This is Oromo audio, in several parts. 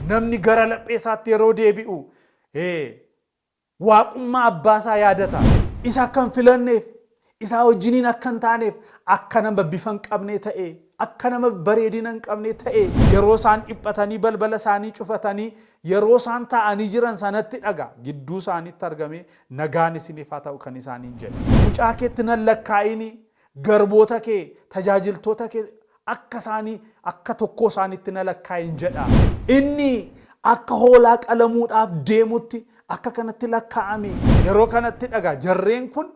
Namni gara laphee isaatti yeroo deebi'u, ee, Waaqummaa Abbaa isaa yaadata. Isa akka hin filanneef, isaa wajjiniin akka hin taaneef, akka nama bifa hin qabnee ta'ee, akka nama bareedina hin qabnee ta'ee. Yeroo isaan dhiphatanii balbala isaanii cufatanii, yeroo isaan taa'anii jiran sanatti dhaga, gidduu isaaniitti argamee, Nagaan isiniif haa ta'u kan isaaniin jedhe. Mucaa keetti nan lakkaa'inii, Garboota kee, tajaajiltoota kee akka isaanii akka tokkoo isaaniitti na lakkaa'i in jedha. Inni akka hoolaa qalamuudhaaf deemuutti akka kanatti lakkaa'ame. Yeroo kanatti dhagaa, jarreen kun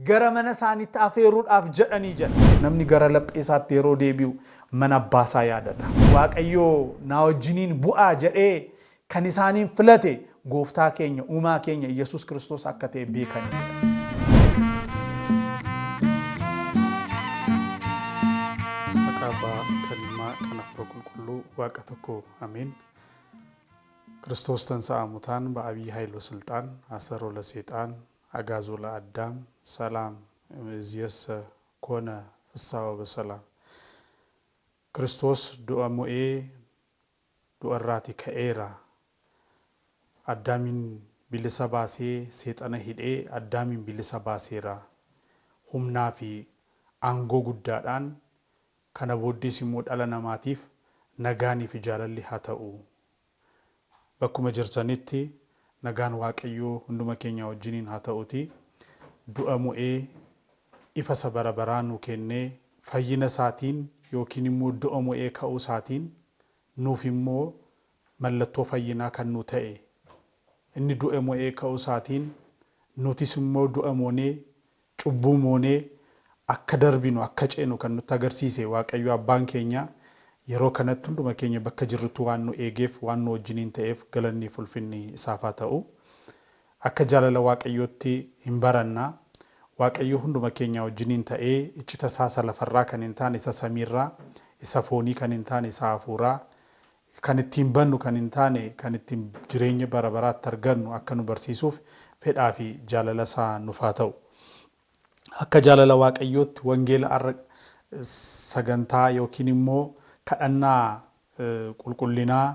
gara mana isaaniitti afeeruudhaaf jedhanii jedha. Namni gara laphee isaatti yeroo deebi'u mana abbaa isaa yaadata. Waaqayyo naa wajjiniin bu'aa jedhee Kan isaaniin filate gooftaa keenya uumaa keenya Iyyasuus Kiristoos akka ta'e beekaniidha. Maqaa abbaa kan ilmaa kan hafuura qulqulluu waaqa tokko ameen. Kiristoos tansa'a mutaan ba'abii haayiloo silxaan asaroo la seexaan agaazoo la addaam salaam iziyassa koona fissaawa basalaam. Kiristoos du'a mo'ee du'arraati ka'eera. Addaamiin bilisa baasee seexana hidhee Addaamiin bilisa baaseera. Humnaa fi aangoo guddaadhaan kana booddees immoo dhala namaatiif nagaanii fi jaalalli haa ta'u. Bakkuma jirtanitti Nagaan waaqayyoo hunduma keenyaa wajjiniin haa ta'uutii du'a mo'ee ifa isa bara baraa nuu kennee fayyina isaatiin yookiin immoo du'a mo'ee ka'uu isaatiin nuuf immoo mallattoo fayyinaa kan nuu ta'e inni du'e mo'ee ka'uu isaatiin nutis immoo du'a moonee Cubbuu moonee akka darbinu, akka ceenu kan nutti agarsiise Waaqayyo Abbaan keenya yeroo kanatti hunduma keenya bakka jirrutti waan nu eegeef, waan nu wajjiniin ta'eef galanniif ulfinni isaaf haa ta'u. Akka jaalala Waaqayyootti hin baranna. Waaqayyo hunduma keenyaa wajjiniin ta'ee iccita isaa isa lafarraa kan hin taane, isa samiirraa, isa foonii kan hin taane, isa hafuuraa, fi kan ittiin bannu kan hin taane kan ittiin jireenya bara baraatti argannu akka nu barsiisuuf fedhaa fi jaalala isaa nuf haa ta'u. Akka jaalala Waaqayyootti wangeela ar'a sagantaa ykn immoo kadhannaa qulqullinaa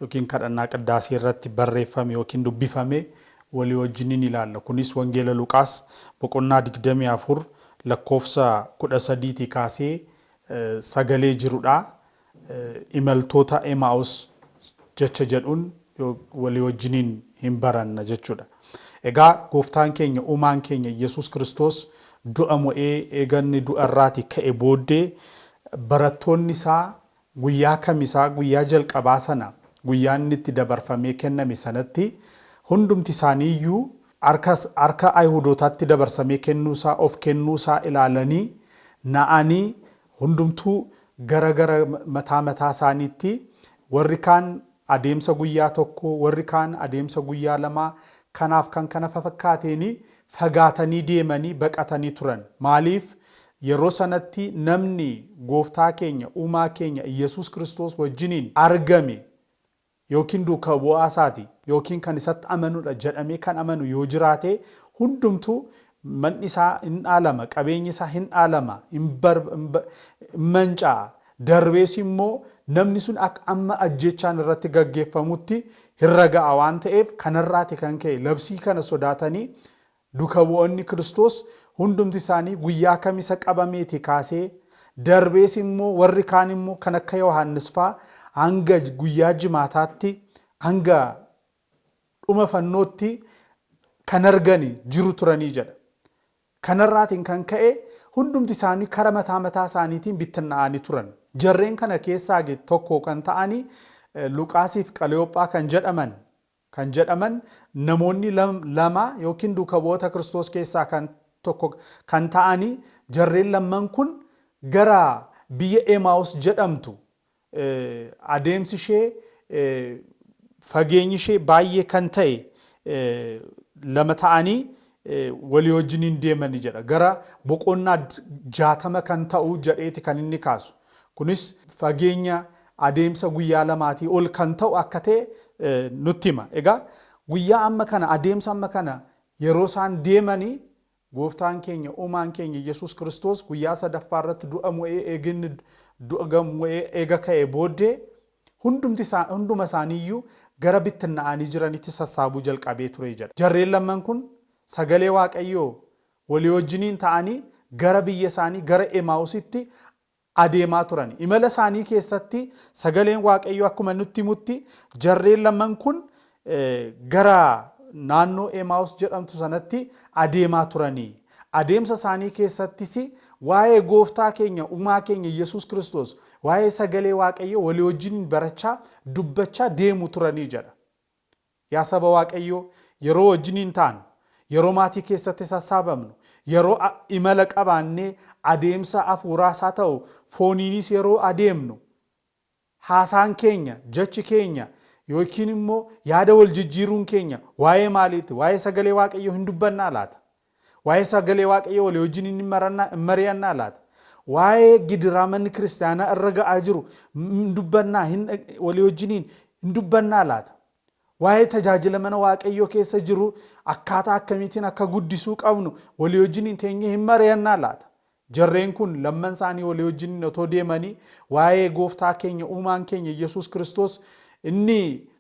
ykn kadhannaa qiddaasee irratti barreeffame ykn dubbifame walii wajjin in ilaalla. Kunis wangeela Luqaas boqonnaa 24 lakkoofsa 13 tii kaasee sagalee jiru dha. imaltoota Emaa'us jecha jedhuun walii wajjiniin hin baranna jechuu dha. Egaa Gooftaan keenya, Uumaan keenya Iyyasuus Kiristoos du'a mo'ee eega inni du'a irraati ka'e booddee barattoonni isaa guyyaa kamisaa guyyaa jalqabaa sana guyyaa inni itti dabarfamee kenname sanatti hundumti isaanii iyyuu harka harka Ayihudootaatti dabarsamee kennuu isaa of kennuu isaa ilaalanii na'anii Hundumtuu gara gara mataa mataa isaaniitti, warri kaan adeemsa guyyaa tokkoo, warri kaan adeemsa guyyaa lamaa, kanaaf kan kana fafakkaateen fagaatanii deemanii, baqatanii turan. Maaliif? Yeroo sanatti namni Gooftaa keenya, Uumaa keenya Iyyasuus Kiristoos wajjiniin argame yookiin duuka bu'aa isaati yookiin kan isatti amanudha jedhamee kan amanu yoo jiraate hundumtuu manni isaa hin dhaalama, qabeenyi isaa hin dhaalama, hin manca'a, darbees immoo namni sun akka amma ajjeechaan irratti gaggeeffamutti hin raga'a waan ta'eef kanarraati kan ka'e labsii kana sodaatanii Duka bu'oonni Kiristoos hundumti isaanii guyyaa Kamisa qabameeti kaasee, darbees immoo warri kaan immoo kan akka Yohaannis faa hanga guyyaa Jimaataatti, hanga dhuma fannootti kan argani jiru turanii jedha. Kanarraatiin kan ka'e hundumti isaanii kara mataa mataa isaaniitiin bittinna'aani turan. Jarreen kana keessaagi tokko kan ta'ani Luqaasiif Qaleyoophaa kan jedhaman kan jedhaman namoonni lama ykn duuka bu'oota Kiristoos keessaa kan tokko kan ta'ani jarreen lamman kun gara biyya Emaa'us jedhamtu adeemsi ishee fageenyi ishee baay'ee kan ta'e lama ta'anii walii wajjin hin deemani jedha. Gara boqonnaa 60 kan ta'u jedheeti kan inni kaasu. Kunis fageenya adeemsa guyyaa lamaatii ol kan ta'u akka ta'e nutti hima. Egaa guyyaa amma kana adeemsa amma kana yeroo isaan deemani gooftaan keenya uumaan keenya Yesuus Kiristoos guyyaa sadaffaa irratti du'a mo'ee eega inni du'a mo'ee eega ka'ee booddee Hundumti isaa hunduma isaanii iyyuu gara bittinna'anii jiranitti sassaabuu jalqabee ture jedha. Jarreen lamman kun sagalee Waaqayyoo walii wajjiniin ta'anii gara biyya isaanii gara Emaa'usitti adeemaa turani. Imala isaanii keessatti sagaleen Waaqayyoo akkuma nutti himutti jarreen lamman kun gara naannoo Emaawus jedhamtu sanatti adeemaa turani. Adeemsa isaanii keessattis waa'ee gooftaa keenya uumaa keenya Yesuus Kiristoos waa'ee sagalee waaqayyoo walii wajjiniin barachaa dubbachaa deemu turanii jedha. Yaa saba waaqayyoo yeroo wajjiniin taanu, yeroo maatii keessatti sassaabamnu, yeroo imala qabaannee adeemsa hafuuraas haa ta'u fooniinis yeroo adeemnu Haasaan keenya, jechi keenya ykn immoo yaada wal jijjiiruun keenya waa'ee maaliiti? Waa'ee sagalee Waaqayyoo hin dubbannaa laata? Waa'ee sagalee Waaqayyoo walii wajjin hin marannaa, hin mari'annaa laata? Waa'ee gidiraa manni kiristaanaa irra ga'aa jiru hin dubbannaa, hin dhag- walii wajjiniin hin dubbannaa laata? Waa'ee tajaajila mana Waaqayyoo keessa jiru akkaataa akkamiitiin akka guddisuu qabnu walii wajjiniin teenyee hin mari'annaa laata? Jarreen kun lamman isaanii walii wajjiniin otoo deemanii waa'ee gooftaa keenya uumaan keenya Iyyasuus Kiristoos inni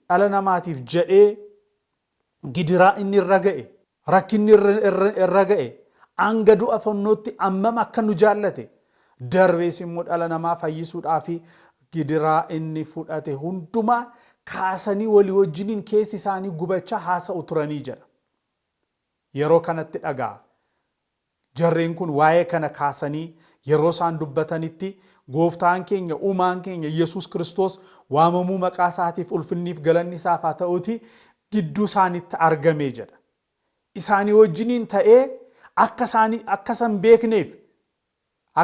dhala namaatiif jedhee gidiraa inni irra ga'e, rakkinni irra ga'e, hanga du'a fannootti ammam akka nu jaallate, darbees immoo dhala namaa fayyisuudhaaf gidiraa inni fudhate hundumaa kaasanii walii wajjiniin keessi isaanii gubachaa haasa'u turanii jedha. Yeroo kanatti dhaga'a. Jarreen kun waa'ee kana kaasanii yeroo isaan dubbatanitti, Gooftaan keenya, Uumaan keenya Yesuus Kiristoos waamamuu maqaa isaatiif ulfinnii fi galanni isaaf haa ta'uutii gidduu isaaniitti argame jedha. Isaanii wajjiniin ta'ee akka isaanii akka isa hin beekneef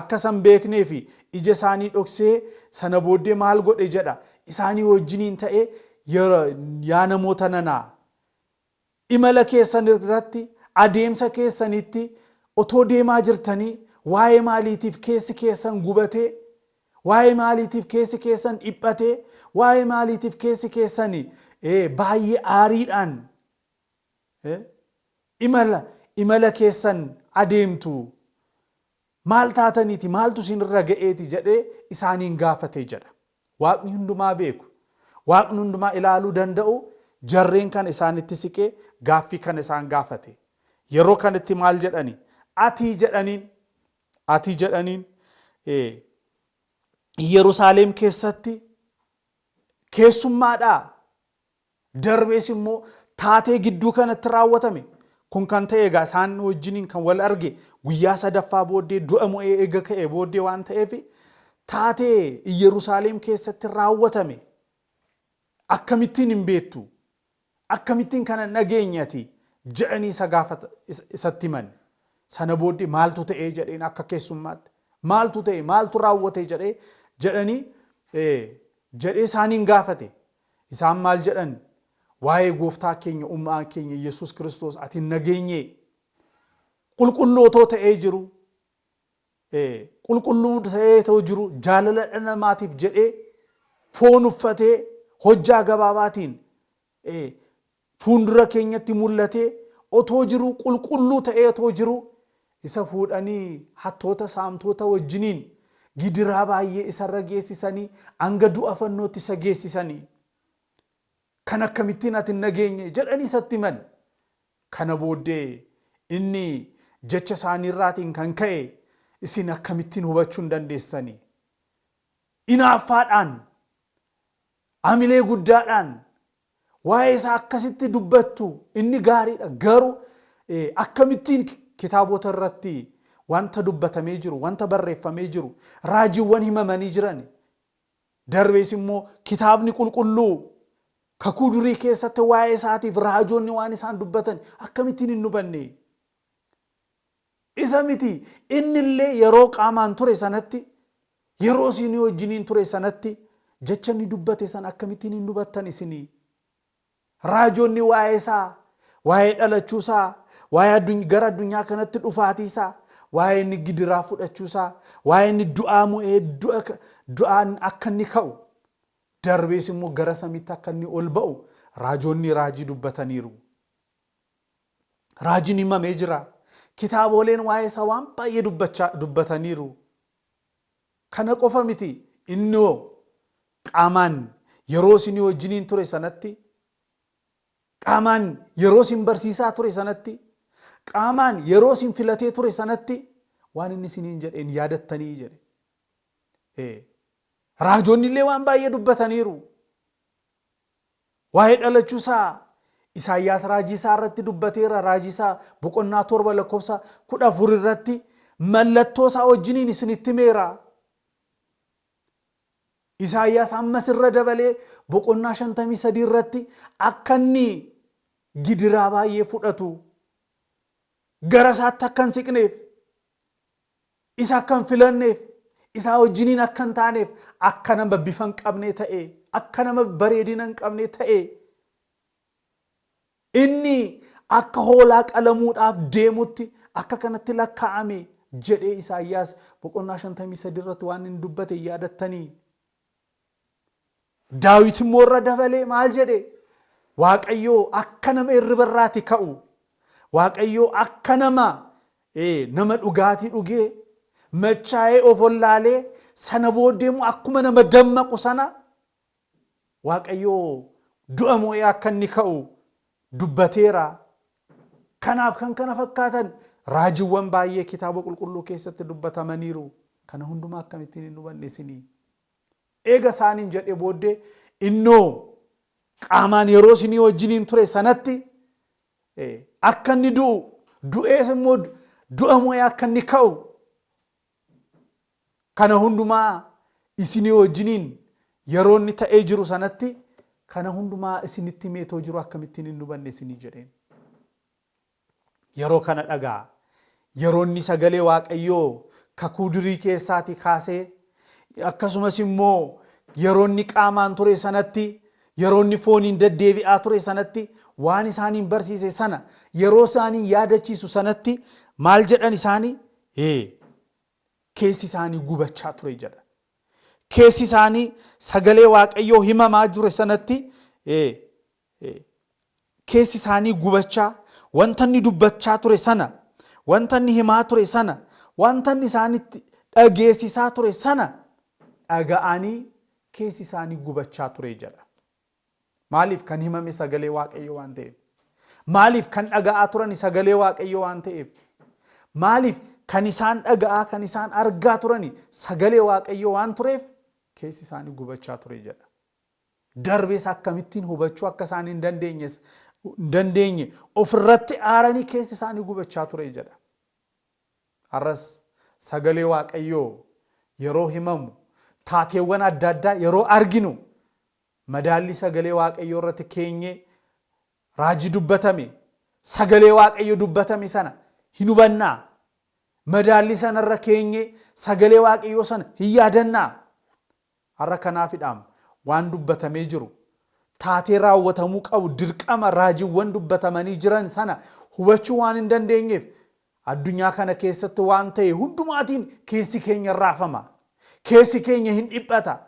akka isa hin beeknee fi ija isaanii dhoksee sana booddee maal godhe jedha isaanii wajjiniin ta'ee yaa namoota nanaa Imala keessan irratti, adeemsa keessanitti, otoo deemaa jirtanii waa'ee maaliitiif keessi keessan gubatee? Waa'ee maaliitiif keessi keessan dhiphatee? Waa'ee maaliitiif keessi keessan baay'ee aariidhaan imala imala keessan adeemtu? Maal taataniiti? Maaltu isin irra ga'eeti? jedhee isaaniin gaafate jedha. Waaqni hundumaa beeku, Waaqni hundumaa ilaaluu danda'u jarreen kana isaanitti siqee gaaffii kana isaan gaafate. Yeroo kanatti maal jedhani? Ati jedhaniin. Ati jedhaniin. Iyyerusaalem keessatti keessummaadhaa? Darbees immoo taatee gidduu kanatti raawwatame Kun kan ta'e egaa isaan wajjiniin kan wal arge guyyaa sadaffaa booddee du'a mo'ee eega ka'ee booddee waan ta'eef taatee Iyyerusaaleem keessatti raawwatame akkamittiin hin beektu? Akkamittiin kana hin dhageenye ati? jedhanii isa gaafata isatti himan. Sana booddee maaltu ta'ee jedheen akka keessummaatti maaltu ta'e maaltu raawwate jedhee jedhanii jedhee isaaniin gaafate. Isaan maal jedhan? Waa'ee gooftaa keenya uumaa keenya Yesuus Kiristoos ati hin nageenyee? Qulqulluu otoo ta'ee jiru, qulqulluu ta'ee otoo jiru jaalala dhala namaatiif jedhee foon uffatee hojjaa gabaabaatiin fuundura keenyatti mul'atee otoo jiruu, qulqulluu ta'ee otoo jiruu, isa fuudhanii hattoota, saamtoota wajjiniin gidiraa baay'ee isa irra geessisanii hanga du'a fannootti isa geessisanii, Kan akkamittiin ati hin nageenye? jedhanii isatti himan. Kana booddee inni jecha isaanii irraatiin kan ka'e isin akkamittiin hubachuu hin dandeessani? Inaaffaadhaan, hamilee guddaadhaan Waa'ee isaa akkasitti dubbattu inni gaariidha garuu akkamittiin kitaabota irratti wanta dubbatamee jiru wanta barreeffamee jiru raajiiwwan himamanii jiran darbees immoo kitaabni qulqulluu kakuu durii keessatti waa'ee isaatiif raajoonni waan isaan dubbatan akkamittiin hin hubanne Isa miti, inni illee yeroo qaamaan ture sanatti, yeroo isinii wajjiniin ture sanatti, jecha inni dubbate sana akkamittiin hin hubattan isinii? Raajonni waa'ee isaa, waa'ee dhalachuu isaa, waa'ee adduny, gara addunyaa kanatti dhufaatii isaa, waa'ee inni gidiraa fudhachuu isaa, waa'ee inni du'aa mo'ee du'a, du'aan akka inni ka'u, darbees immoo gara samiitti akka inni ol ba'u, raajonni raajii dubbataniiru. Raajiin himamee jira. Kitaabooleen waa'ee isaa waan baay'ee dubbachaa dubbataniiru. Kana qofa miti inni hoo qaamaan yeroo isinii wajjiniin ture sanatti qaamaan yeroo isin barsiisaa ture sanatti qaamaan yeroo isin filatee ture sanatti waan inni isiniin jedheen yaadattanii jedhe. Ee, Raajoonni illee waan baay'ee dubbataniiru. Waa'ee dhalachuu isaa Isaayyaas raajii isaa irratti dubbateera. Raajii isaa boqonnaa torba lakkoofsa kudha afur irratti mallattoo isaa wajjiniin isinitti himeera. Isaayyaas ammas irra dabalee boqonnaa shantamii sadii irratti akka inni gidiraa baay'ee fudhatu gara isaatti akka hin siqneef Isa akka hin filanneef, isaa wajjiniin akka hin taaneef, akka nama bifa hin qabnee ta'ee, akka nama bareedina hin qabnee ta'ee, inni akka hoolaa qalamuudhaaf deemutti akka kanatti lakkaa'ame jedhee Isaayyaas boqonnaa 53 irratti waan inni dubbate yaadattanii Daawit immoo irra dabalee maal jedhe? Waaqayyoo akka nama irriba irraati ka'u, Waaqayyoo akka nama nama dhugaatii dhugee machaa'ee of ollaalee sana booddee immoo akkuma nama dammaqu sana Waaqayyoo du'a moo'ee akka inni ka'u dubbateera. Kanaaf kan kana fakkaatan raajiwwan baay'ee kitaaba qulqulluu keessatti dubbatamaniiru. Kana hundumaa akkamittiin hin hubanne isin? Eega isaaniin jedhee booddee innoo qaamaan yeroo isinii wajjiniin ture sanatti akka inni du'u, du'ees immoo du'a mo'ee akka inni ka'u Kana hundumaa isinii wajjiniin yeroo inni ta'ee jiru sanatti kana hundumaa isinitti himee too jiru akkamittiin hin hubanne isinii jedheen. Yeroo kana dhaga'a. Yeroo inni sagalee Waaqayyoo kakuu durii keessaatii kaasee akkasumas immoo yeroo inni qaamaan ture sanatti yeroo inni fooniin deddeebi'aa ture sanatti waan isaaniin barsiise sana yeroo isaaniin yaadachiisu sanatti maal jedhan isaanii Ee, keessi isaanii gubachaa ture jedha. Keessi isaanii sagalee Waaqayyoo himamaa jure sanatti ee, ee, keessi isaanii gubachaa wanta inni dubbachaa ture sana, wanta inni himaa ture sana, wanta inni isaanitti dhageessisaa ture sana dhaga'anii keessi isaanii gubachaa ture jedha. Maaliif? Kan himame sagalee Waaqayyoo waan ta'eef. Maaliif? Kan dhaga'aa turani sagalee Waaqayyoo waan ta'eef. Maaliif? Kan isaan dhaga'aa, kan isaan argaa turani sagalee Waaqayyoo waan tureef keessi isaanii gubachaa ture jedha. Darbees akkamittiin hubachuu akka isaan hin dandeenyes hin dandeenye ofirratti aaranii keessi isaanii gubachaa ture jedha. Har'as sagalee Waaqayyoo yeroo himamu, taateewwan adda addaa yeroo arginu, madaallii sagalee Waaqayyoo irratti keenyee raajii dubbatame, sagalee Waaqayyo dubbatame sana hin hubannaa? Madaallii sana irra keenyee sagalee Waaqayyoo sana hin yaadannaa? Har'a kanaafidhaam waan dubbatamee jiru, taatee raawwatamuu qabu, dirqama raajiwwan dubbatamanii jiran sana hubachuu waan hin dandeenyeef addunyaa kana keessatti waan ta'e hundumaatiin keessi keenya hin raafama. Keessi keenya hin dhiphata.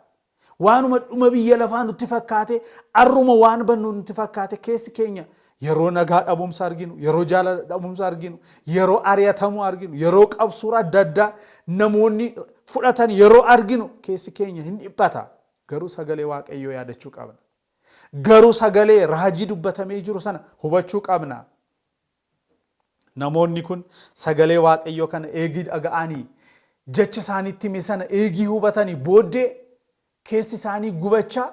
Waanuma dhuma biyya lafaa nutti fakkaatee arruma waan bannu nutti fakkaate keessi keenya Yeroo nagaa dhabumsa arginu, yeroo jaalala dhabumsa arginu, yeroo ari'atamuu arginu, yeroo qabsuura adda addaa namoonni fudhatan yeroo arginu keessi keenya hin dhiphata. Garuu sagalee Waaqayyoo yaadachuu qabna. Garuu sagalee raajii dubbatamee jiru sana hubachuu qabna. Namoonni kun sagalee Waaqayyoo kana eegii dhaga'anii jechi isaanitti hime sana eegii hubatanii booddee keessi isaanii gubachaa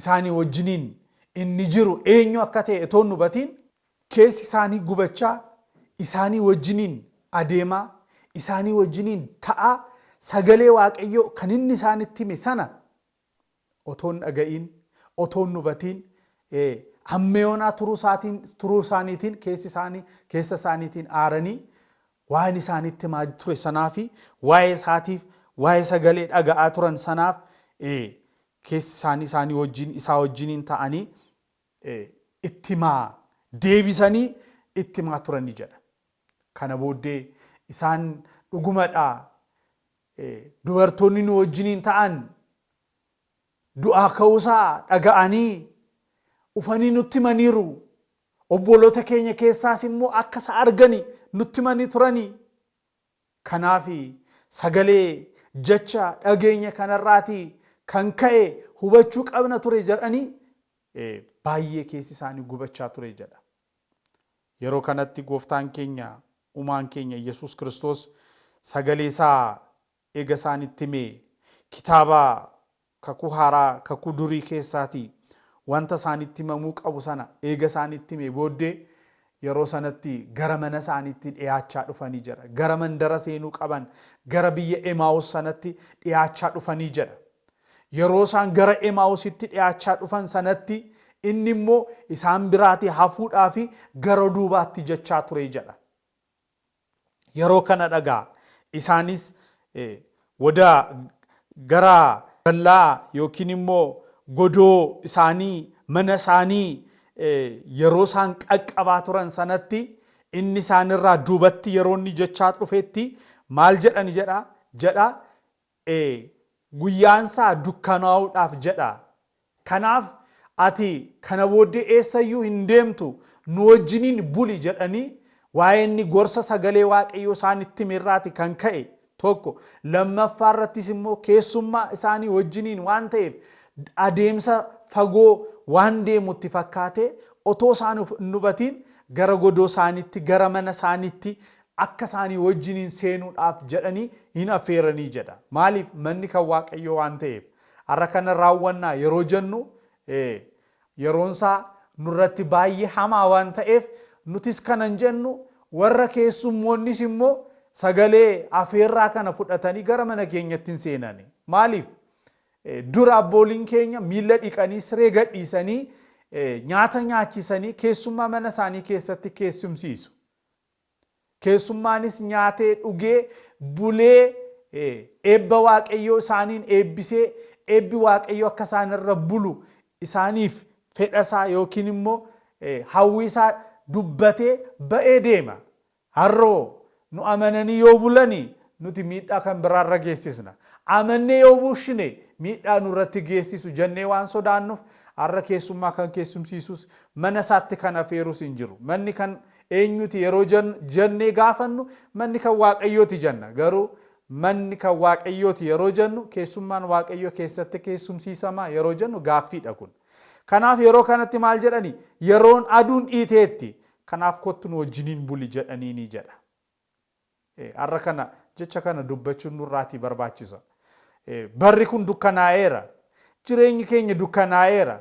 isaanii wajjiniin inni jiru eenyu akka ta'e otoo hin hubatiin keessi isaanii gubachaa isaanii wajjiniin adeemaa isaanii wajjiniin ta'aa sagalee waaqayyoo kan inni isaanitti hime sana otoo hin dhaga'iin otoo hin hubatiin ee, ammeyoonaa turuu isaatiin turuu isaaniitiin keessi isaanii keessa isaaniitiin aaranii waan isaanitti himaa ture sanaa fi waa'ee isaatiif waa'ee sagalee dhaga'aa turan sanaaf ee, keessi isaanii isaanii wajjin, isaa wajjiniin ta'anii itti himaa, deebisanii itti himaa turan ni jedha. Kana booddee isaan dhugumadha dubartoonni nu wajjiniin ta'an du'aa ka'uusaa dhaga'anii ufanii nutti himaniiru. Obboloota keenya keessaas immoo akka isa argani nutti himanii turani Kanaafi, sagalee, jecha, dhageenya kanarraati kan ka'e hubachuu qabna ture jedhanii baay'ee keessi isaanii gubachaa ture jedha. Yeroo kanatti Gooftaan keenya Umaan keenya Iyyesuus Kiristoos sagalee isaa eega isaanitti himee, kitaaba Kakuu Haaraa kakuu durii keessaatii wanta isaanitti himamuu qabu sana eega isaanitti himee booddee yeroo sanatti gara mana isaaniitti dhiyaachaa dhufanii jedha. Gara mandara seenuu qaban gara biyya Emaawus sanatti dhiyaachaa dhufanii jedha. Yeroo isaan gara Emaawusitti dhiyaachaa dhufan sanatti inni immoo isaan biraatii hafuudhaafi gara duubaatti jechaa ture jedha. yeroo kana dhagaa isaanis woda gara dallaa yookiin immoo godoo isaanii mana isaanii yeroo isaan qaqqabaa turan sanatti inni isaanirraa duubatti yeroo inni jechaa dhufetti maal jedhani jedha jedha ee, guyyaansaa dukkanaa'uudhaaf jedha. Kanaaf, Ati kana booddee eessa iyyuu hin deemtu, nu wajjiniin buli jedhanii waa'ee inni gorsa sagalee Waaqayyoo isaanitti hime irraati kan ka'e tokko, lammaffaa irrattis immoo keessummaa isaanii wajjiniin waan ta'eef adeemsa fagoo waan deemu itti fakkaatee otoo isaan hin hubatiin gara godoo isaaniitti, gara mana isaaniitti akka isaanii wajjiniin seenuudhaaf jedhanii in affeeranii jedha. Maaliif? Manni kan Waaqayyoo waan ta'eef. Har'a kana raawwannaa yeroo jennu yeroon isaa nurratti baay'ee hamaa waan ta'eef nutis kanan jennu warra keessummoonnis immoo sagalee afeerraa kana fudhatanii gara mana keenyatti hin seenani. Maaliif? Dura abbooliin keenya miila dhiqanii siree gadhiisanii nyaata nyaachisanii keessummaa mana isaanii keessatti keessumsiisu. Keessummaanis nyaatee dhugee bulee eebba Waaqayyoo isaaniin eebbisee eebbi Waaqayyoo akka isaan irra bulu isaaniif fedha isaa yookiin immoo hawwii isaa dubbatee ba'ee deema. Har'oo nu amananii yoo bulanii nuti miidhaa kan biraa irra geessisna. Amannee yoo bulshine miidhaa nurratti geessisu jennee waan sodaannuuf har'a keessummaa kan keessumsiisus mana isaatti kan afeerus hin jiru. Manni kan Eenyuti yeroo jennu, jennee gaafannu manni kan Waaqayyooti jenna. Garuu manni kan Waaqayyooti yeroo jennu keessummaan Waaqayyoo keessatti keessumsiisama yeroo jennu gaaffiidha kun. Kanaaf yeroo kanatti maal jedhani? Yeroon aduun dhiiteetti. Kanaaf kottu nu wajjiniin buli jedhaniini jedha. Ee, har'a kana jecha kana dubbachuun nurraatii barbaachisa. Ee, barri kun dukkanaa'eera. Jireenyi keenya dukkanaa'eera.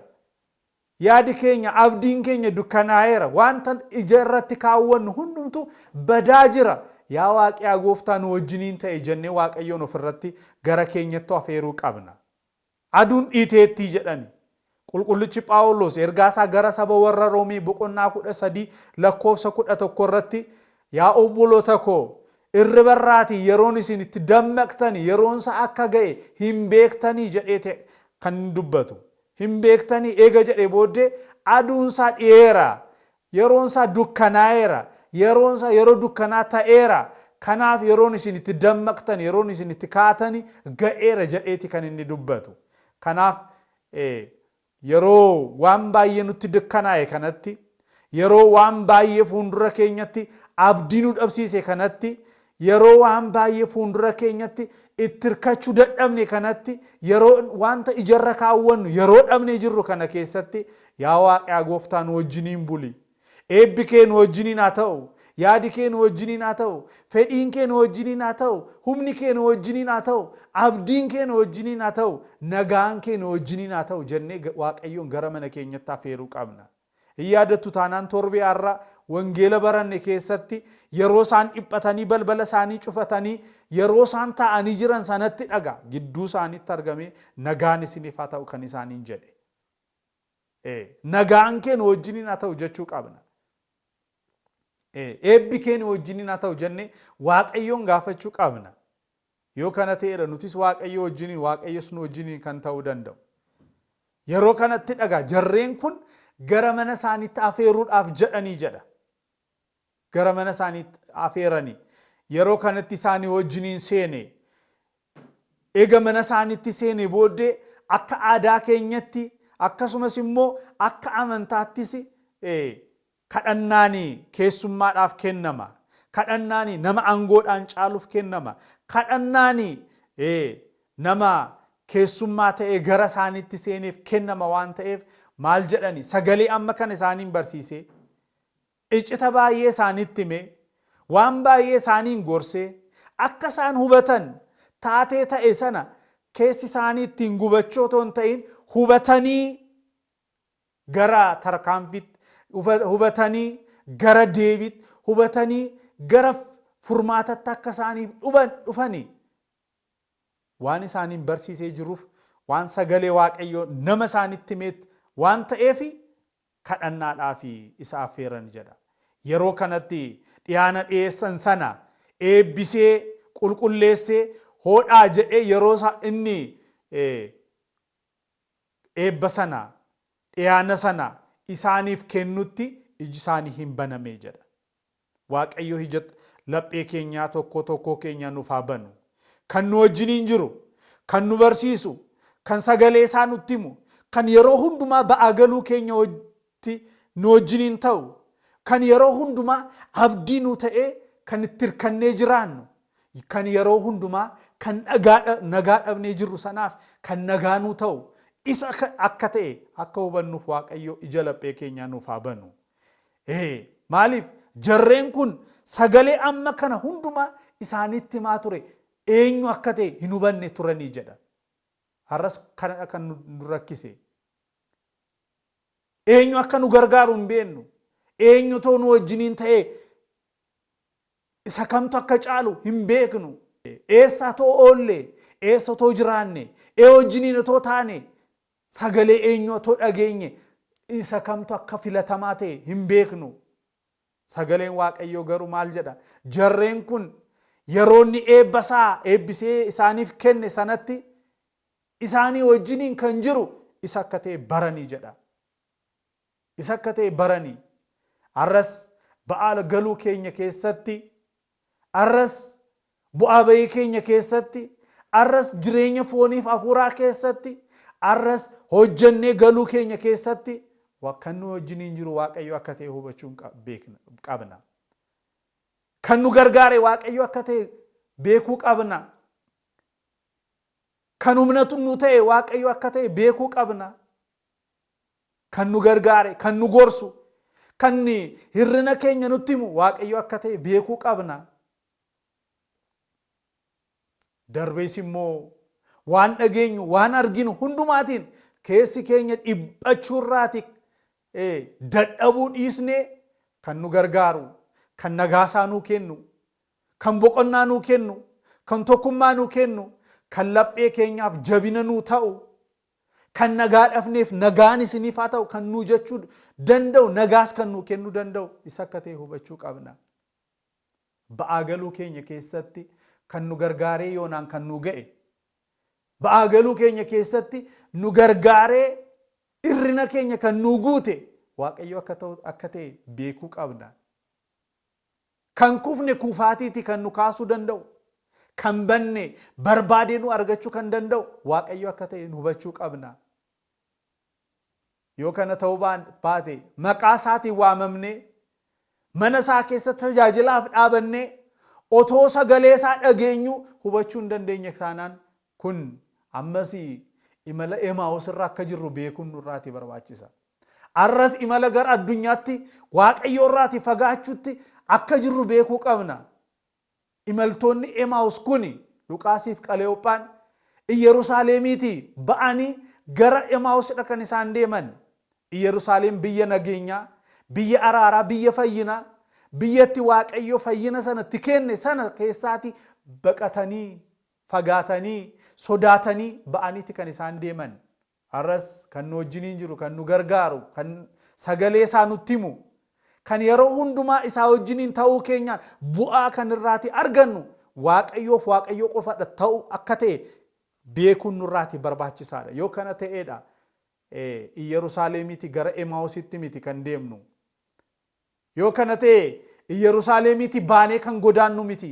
Yaadi keenya, abdiin keenya dukkanaa'eera, wanta ija irratti kaawwannu hundumtuu badaa jira, yaa Waaqi, yaa Gooftaa nu wajjiniin ta'i jennee Waaqayyoon of irratti gara keenyattu afeeruu qabna. Aduun dhiiteettii jedhani. Qulqullichi Phaawuloos ergaa isaa gara saba warra Roomee boqonnaa 13 lakkoofsa 11 irratti Yaa obboloota koo, irriba irraatii yeroon isin itti dammaqtani yeroon isaa akka ga'e hin beektanii jedhee kan dubbatu. hin beektanii? Eega jedhee booddee, Aduun isaa dhiyeera, yeroon isaa dukkanaa'eera, yeroon isaa yeroo dukkanaa ta'eera, kanaaf yeroon isin itti dammaqtan, yeroon isin itti kaatan ga'eera jedheeti kan inni dubbatu. Kanaaf, yeroo waan baay'ee nutti dukkanaa'e kanatti, Yeroo waan baay'ee fuundura keenyatti abdii nu dhabsiise kanatti, yeroo waan baay'ee fuundura keenyatti itti hirkachuu dadhabne kanatti, yeroo wanta ijarra kaawwannu yeroo dhabnee jirru kana keessatti, yaa Waaqaa Gooftaa nu wajjiniin buli. Eebbi kee nu wajjiniin haa ta'u. Yaadi kee nu wajjiniin haa ta'u. Fedhiin kee nu wajjiniin haa ta'u. Humni kee nu wajjiniin haa ta'u. Abdiin kee nu wajjiniin haa ta'u. Nagaan kee nu wajjiniin haa ta'u jennee Waaqayyoon gara mana keenyatti afeeruu qabna. Hin yaadattu taanaan torbee har'a wangeela baranne keessatti yeroo isaan dhiphatanii balbala isaanii cufatanii yeroo isaan taa'anii jiran sanatti dhaga gidduu isaaniitti argamee nagaan isiniif haa ta'u kan isaaniin jedhe. Ee, nagaan kee nu wajjiniin haa ta'u jechuu qabna. Ee, eebbi kee nu wajjiniin haa ta'u jennee Waaqayyoon gaafachuu qabna. Yoo kana ta'eedha nutis Waaqayyoo wajjiniin, Waaqayyos nu wajjiniin kan ta'uu danda'u. Yeroo kanattidha egaa jarreen kun gara mana isaaniitti afeeruudhaaf jedhanii jedha. Gara mana isaaniitti afeeranii yeroo kanatti isaanii wajjiniin seene. Eega mana isaaniitti seene booddee akka aadaa keenyatti akkasumas immoo akka amantaattis Kadhannaani keessummaadhaaf kennama. Kadhannaani nama angoodhaan caaluuf kennama. Kadhannaani nama keessummaa ta'ee gara isaaniitti seeneef kennama waan ta'eef maal jedhani sagalee amma kana isaaniin barsiisee icita baay'ee isaanitti himee waan baay'ee isaaniin gorsee akka isaan hubatan taatee ta'e sana keessi isaanii ittiin gubachuu otoo hin ta'in hubatanii gara tarkaanfiitti hubatanii gara deebiitti hubatanii gara furmaatatti akka isaaniif dhufani waan isaaniin barsiisee jiruuf waan sagalee waaqayyoo nama isaanitti himeetti waan ta'eef kadhannaadhaaf isa affeeran jedha. Yeroo kanatti dhiyaana dhiyeessan sana eebbisee qulqulleessee hoodhaa jedhee yeroo inni eebba sana, dhiyaana sana isaaniif kennutti iji isaanii hin banamee jedha. Waaqayyo ija laphee keenyaa tokkoo tokkoo keenyaa nuuf haa banu. Kan nu wajjiniin jiru, kan nu barsiisu, kan sagalee isaa nutti himu, kan yeroo hundumaa ba'aa galuu keenya tti nu wajjiniin ta'u, kan yeroo hundumaa abdii nuu ta'ee kan itti hirkannee jiraannu, kan yeroo hundumaa kan dhagaa nagaa dhabnee jirru sanaaf kan nagaa nuu ta'u isa akka ta'e akka hubannuuf Waaqayyo ija laphee keenyaa nuuf haa banu. Ee, maaliif? Jarreen kun sagalee amma kana hundumaa isaaniitti himaa ture eenyu akka ta'e hin hubanne turanii jedha. Har'as kanadha kan nu rakkise. Eenyu akka nu gargaaru hin beennu. Eenyutoo nu wajjiniin ta'ee isa kamtu akka caalu hin beeknu. Eessaa too oollee, eessa too jiraanne, ee wajjiniin otoo taane, sagalee eenyu otoo dhageenye isa kamtu akka filatamaa ta'e hin beeknu. Sagaleen Waaqayyoo garuu maal jedha? Jarreen kun yeroo inni eebba isaa eebbisee isaaniif kenne sanatti isaanii wajjiniin kan jiru isa akka ta'e barani jedha. Isa akka ta'e barani. Arras ba'aala galuu keenya keessatti, arras bu'aa ba'ii keenya keessatti, arras jireenya fooniif hafuuraa keessatti, arras hojjennee galuu keenya keessatti kan nu wajjiniin jiru Waaqayyo akka ta'e hubachuun qabna. Kan nu gargaare Waaqayyo akka ta'e beekuu qabna. Kan humna nu ta'e Waaqayyo akka ta'e beekuu qabna. Kan nu gargaare, kan nu gorsu, kan hirrina keenya nutti himu Waaqayyo akka ta'e beekuu qabna. Darbees immoo waan dhageenyu, waan arginu hundumaatiin keessi keenya dhiphachuu irraati dadhabuu dhiisnee kan nu gargaaru, kan nagaasaa nuu kennu, Kan boqonnaa nuu kennu, kan tokkummaa nuu kennu, kan laphee keenyaaf jabina nuu ta'u, kan nagaa dhabneef nagaan isiniif haa ta'u kan nuu jechuu danda'u, nagaas kan nuu kennuu danda'u isa akka ta'e hubachuu qabna. Ba'aa galuu keenya keessatti kan nu gargaaree yoonaan kan nuu ga'e, ba'aa galuu keenya keessatti nu gargaaree irrina keenya kan nuu guute Waaqayyo akka ta'u akka ta'e beekuu qabna. Kan kufne kufaatiiti kan nu kaasuu danda'u, kan banne barbaadee nu argachuu kan danda'u Waaqayyo akka ta'e hubachuu qabna. Yoo kana ta'uu baate maqaa isaatiin waamamnee, mana isaa keessatti tajaajilaaf dhaabannee, otoo sagalee isaa dhageenyuu hubachuu hin dandeenye taanaan Kun, ammas imala Emaa'us irra akka jirru beekuun nurraati barbaachisa. Arras imala gara addunyaatti Waaqayyo irraati fagaachuutti akka jirru beekuu qabna. Imaltoonni Emaa'us kuni, Luqaasiif Qaleyoophaan, Iyerusaaleemiiti ba'anii gara Emaa'usidha kan isaan deeman. Iyerusaaleem biyya nageenyaa, biyya araaraa, biyya fayyinaa, biyya itti Waaqayyo fayyina sana itti kenne sana keessaati baqatanii fagaatanii, sodaatanii ba'aniiti kan isaan deeman. Har'as kan nu wajjiniin jiru, kan nu gargaaru, kan sagalee isaa nutti himu, kan yeroo hundumaa isaa wajjiniin ta'uu keenyaan bu'aa kan irraati argannu Waaqayyoof Waaqayyoo qofadha ta'u akka ta'e beekuun nurraati barbaachisaadha. Yoo kana ta'eedha Iyyerusaalemiiti gara Emaawusitti miti kan deemnu. Yoo kana ta'e Iyyarusaaleemiitii baanee kan godaannu miti.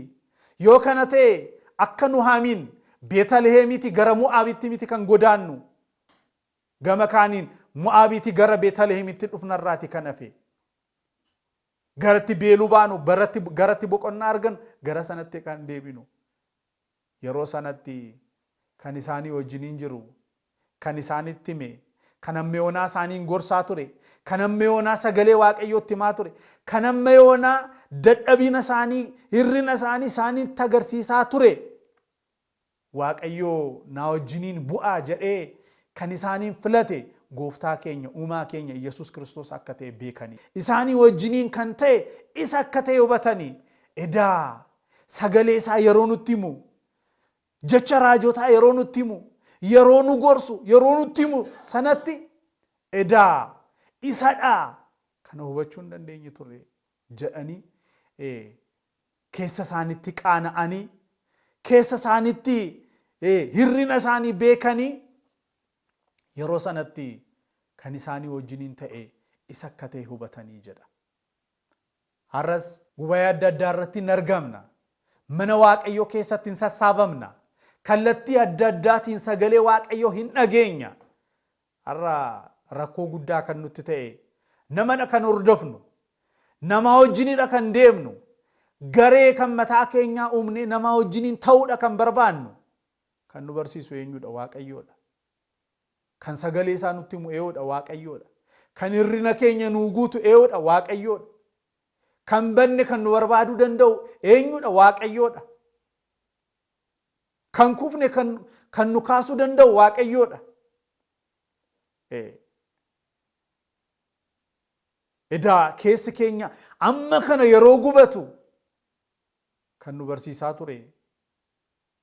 Yoo kana ta'e akka Nuhaamiin Beetaliheemiitii gara Mo'aabitti miti kan godaannu. Gama kaaniin Mo'aabiitii gara Beetaliheemitti dhufna irraati kan hafe. Garatti beeluu baanu, garatti boqonnaa argannu gara sanatti kan deebinu. Yeroo sanatti kan isaanii wajjiniin jiru, kan isaanitti hime, kan hamma yoonaa isaaniin gorsaa ture, kan hamma yoonaa sagalee Waaqayyoo itti himaa ture, kan hamma yoonaa dadhabina isaanii, hir'ina isaanii isaanitti agarsiisaa ture, Waaqayyo naa wajjiniin bu'aa jedhee kan isaaniin filate Gooftaa keenya, Uumaa keenya Iyyasuus Kiristoos akka ta'e beekani. Isaanii wajjiniin kan ta'e isa akka ta'e hubatani. Edaa Sagalee isaa yeroo nutti himu, jecha raajotaa yeroo nutti himu, yeroo nu gorsu, yeroo nutti himu sanatti edaa isadhaa kana hubachuu hin dandeenye turre jedhanii keessa isaanitti qaana'anii keessa isaanitti hirrina isaanii beekanii yeroo sanatti kan isaanii wajjiniin ta'e isa akka ta'e hubatanii jedha. Har'as gubayee adda addaa irratti hin argamna. Mana Waaqayyoo keessatti hin sassaabamna. Kallattii adda addaatiin sagalee Waaqayyoo hin dhageenya. Har'a rakkoo guddaa kan nutti ta'e namadha kan hordofnu. Namaa wajjinidha kan deemnu. Garee kan mataa keenyaa uumnee namaa wajjiniin ta'uudha kan barbaannu. Kan nu barsiisu eenyudha? Waaqayyoodha. Kan sagalee isaa nutti himu eeyoodha, Waaqayyoodha. Kan hirrina keenya nuu guutu eeyoodha, Waaqayyoodha. Kan banne kan nu barbaaduu danda'u eenyudha? Waaqayyoodha. Kan kufne kan, kan nu kaasuu danda'u Waaqayyoodha. Ee. Edaa keessi keenya amma kana yeroo gubatu kan nu barsiisaa ture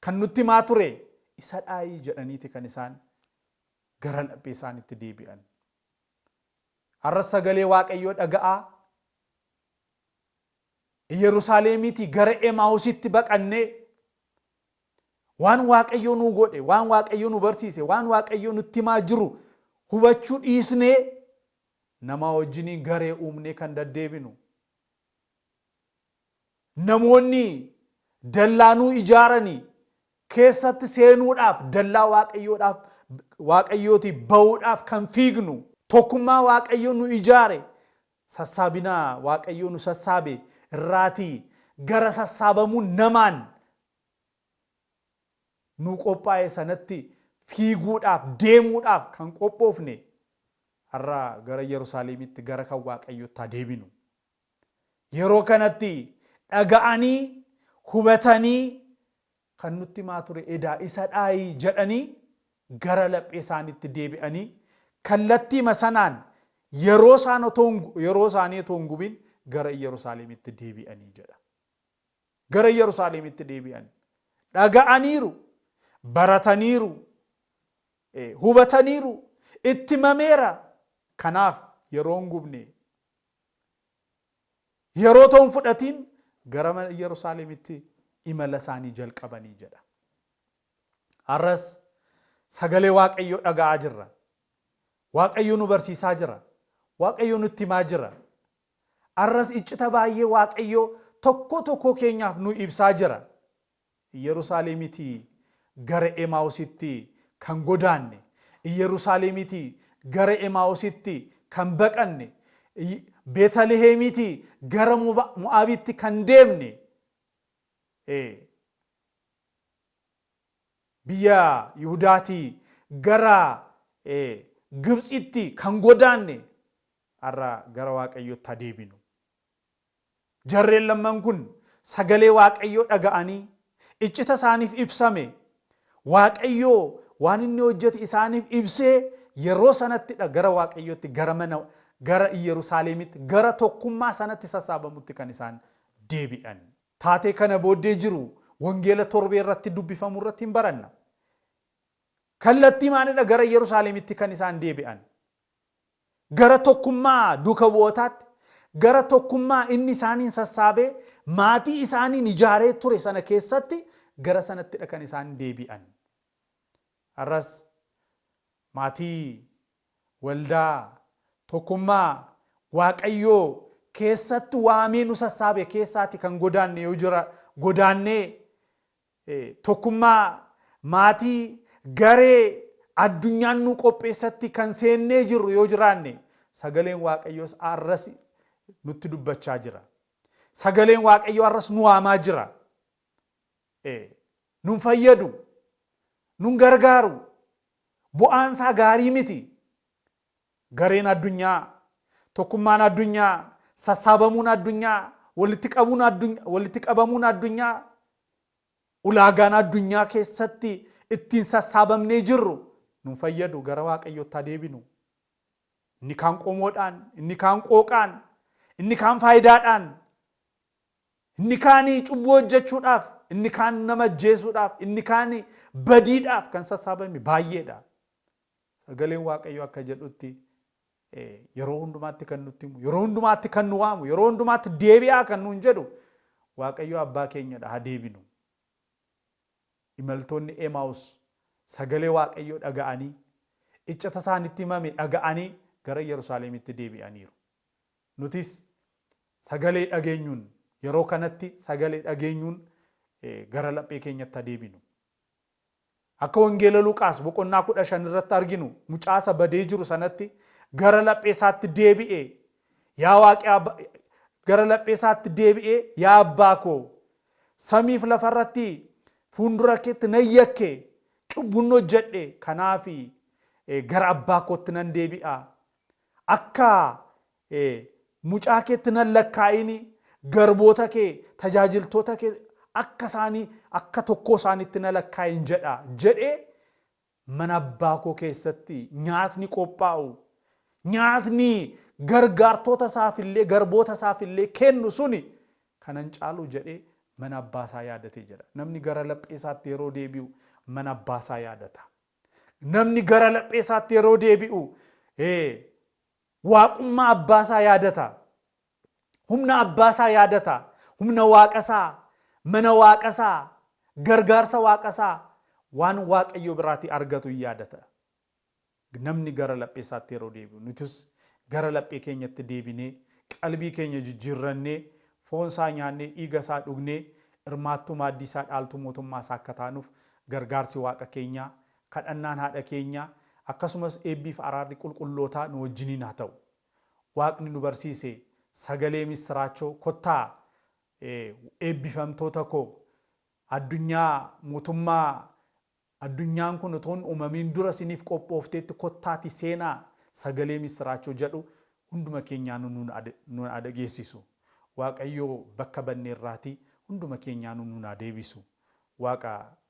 Kan nutti himaa ture isadhaayii jedhaniiti kan isaan gara laphee isaanitti deebi'an. Har'as sagalee Waaqayyoo dhaga'aa Iyerusaaleemiitii gara Emaawusitti baqannee waan Waaqayyoo nuu godhe, waan Waaqayyoo nu barsiise, waan Waaqayyoo nutti himaa jiru hubachuu dhiisnee namaa wajjiniin garee uumnee kan daddeebinu. Namoonni dallaa nuu ijaarani keessatti seenuudhaaf, dallaa Waaqayyoodhaaf, Waaqayyootii ba'uudhaaf kan fiignu, tokkummaa Waaqayyo nu ijaare, sassaabina Waaqayyoo nu sassaabe irraatii gara sassaabamuu namaan nuu qophaa'e sanatti fiiguudhaaf, deemuudhaaf kan qophoofne, har'a gara Yerusaaleemitti, gara kan Waaqayyootti haa deebinu. Yeroo kanatti dhaga'anii, hubatanii kan nutti himaa ture edaa isa dhaayi jedhanii gara laphee isaaniitti deebi'anii kallattiima sanaan yeroo isaan otoo yeroo isaanii otoo hin gubin gara Iyyarusaaleemitti deebi'anii jedha. Gara Iyyarusaaleemitti deebi'an. Dhaga'aniiru, barataniiru, hubataniiru, itti himameera. Kanaaf yeroo hin gubne Yeroo otoo hin fudhatiin gara Yerusaalemitti imala isaanii jalqabanii jedha. Har'as sagalee Waaqayyoo dhaga'aa jirra. Waaqayyo nu barsiisaa jira. Waaqayyo nutti himaa jira. Har'as iccita baay'ee Waaqayyoo tokko tokkoo keenyaaf nu ibsaa jira. Iyyerusaaleemitii gara Emaawusitti kan godaanne, Iyyerusaaleemitii gara Emaawusitti kan baqanne, Betaliheemitii gara Mo'aabitti kan deemne, ee, biyya Yihudaatii gara ee, Gibtsitti kan godaanne, har'a gara Waaqayyootti haa deebinu. Jarreen lamman kun sagalee Waaqayyoo dhaga'anii, iccita isaaniif ibsame, Waaqayyoo waan inni hojjete isaaniif ibsee yeroo sanatti dha gara Waaqayyootti, gara mana, gara Iyyerusaaleemitti, gara tokkummaa sanatti sassaabamutti kan isaan deebi'an. Taatee kana booddee jiru Wangeela torbee irratti dubbifamu irratti in baranna. Kallattiimaani dha gara Iyyerusaaleemitti kan isaan deebi'an. Gara tokkummaa duuka bu'ootaatti, gara tokkummaa inni isaaniin sassaabee maatii isaaniin ijaaree ture sana keessatti gara sanattidha kan isaan deebi'an. Har'as maatii, waldaa, tokkummaa Waaqayyo keessatti waamee nu sassaabe keessaati kan godaanne yoo jira, godaannee Tokkummaa, maatii, garee, addunyaan nuu qopheessatti kan seennee jirru yoo jiraanne, sagaleen Waaqayyoos har'as nutti dubbachaa jira. Sagaleen Waaqayyoo har'as nu waamaa jira. Ee, nun fayyadu, nun gargaaru, bu'aan isaa gaarii miti. Gareen addunyaa, tokkummaan addunyaa, sassaabamuun addunyaa, walitti qabuun addun, walitti qabamuun addunyaa, ulaagaan addunyaa keessatti ittiin sassaabamnee jirru nun fayyadu gara Waaqayyootti haa deebinu. Inni kaan qomoodhaan, inni kaan qooqaan, inni kaan faayidaadhaan, inni kaan cubbuu hojjechuudhaaf, inni kaan nama ajjeesuudhaaf, inni kaan badiidhaaf kan sassaabame baay'eedha. Sagaleen Waaqayyoo akka jedhutti yeroo hundumaatti kan nutti himu, yeroo hundumaatti kan nu waamu, yeroo hundumaatti deebi'aa kan nuun jedhu Waaqayyoo abbaa keenyadha haa deebinu. Imaltoonni Emaus sagalee Waaqayyoo dhaga'anii iccita isaanitti himame dhaga'anii gara Yerusaalemitti deebi'aniiru. Nutis sagalee dhageenyuun yeroo kanatti sagalee dhageenyuun gara laphee keenyatti haa deebinu. Akka wangeela Luqaas boqonnaa 15 irratti arginu mucaa isa badee jiru sanatti gara laphee isaatti deebi'ee yaa waaqi gara laphee isaatti deebi'ee yaa abbaa koo samiif lafa irratti fuundura keetti nan yakke cubbuun hojjedhe kanaafi gara abbaa kootti nan deebi'a akka Ee, mucaa keetti nan lakkaa'ini, garboota kee, tajaajiltoota kee akka isaanii, akka tokkoo isaaniitti na lakkaa'in jedha jedhee mana abbaa koo keessatti nyaatni qophaa'u, nyaatni gargaartoota isaaf illee, garboota isaaf illee kennu suni kana hin caalu jedhee mana abbaa isaa yaadate jedha. Namni gara laphee isaatti yeroo deebi'u mana abbaa isaa yaadata. Namni gara laphee isaatti yeroo deebi'u, ee, Waaqummaa Abbaa isaa yaadata. Humna Abbaa isaa yaadata. Humna Waaqa isaa, mana Waaqa isaa, gargaarsa Waaqa isaa, waan Waaqayyo biraatii argatu in yaadata. Namni gara laphee isaatti yeroo deebi'u, nutis gara laphee keenyatti deebinee, qalbii keenya jijjiirrannee, foon isaa nyaannee, dhiiga isaa dhugnee, hirmaattuu maaddii isaa, dhaaltuu mootummaa isaa akka taanuuf gargaarsi Waaqa keenyaa Kadhannaan haadha keenyaa, akkasumas eebbiif araarri qulqullootaa nu wajjiniin haa ta'u. Waaqni nu barsiise sagalee missiraachoo kottaa eebbifamtoota koo addunyaa mootummaa addunyaan kun utuu hin uumamiin dura isiniif qophoofteetti kottaatii seenaa sagalee missiraachoo jedhu hunduma keenyaanuu nuun nuun haa dhageessisu. Waaqayyoo bakka badneerraatii hunduma keenyaanuu nuun haa deebisu. Waaqa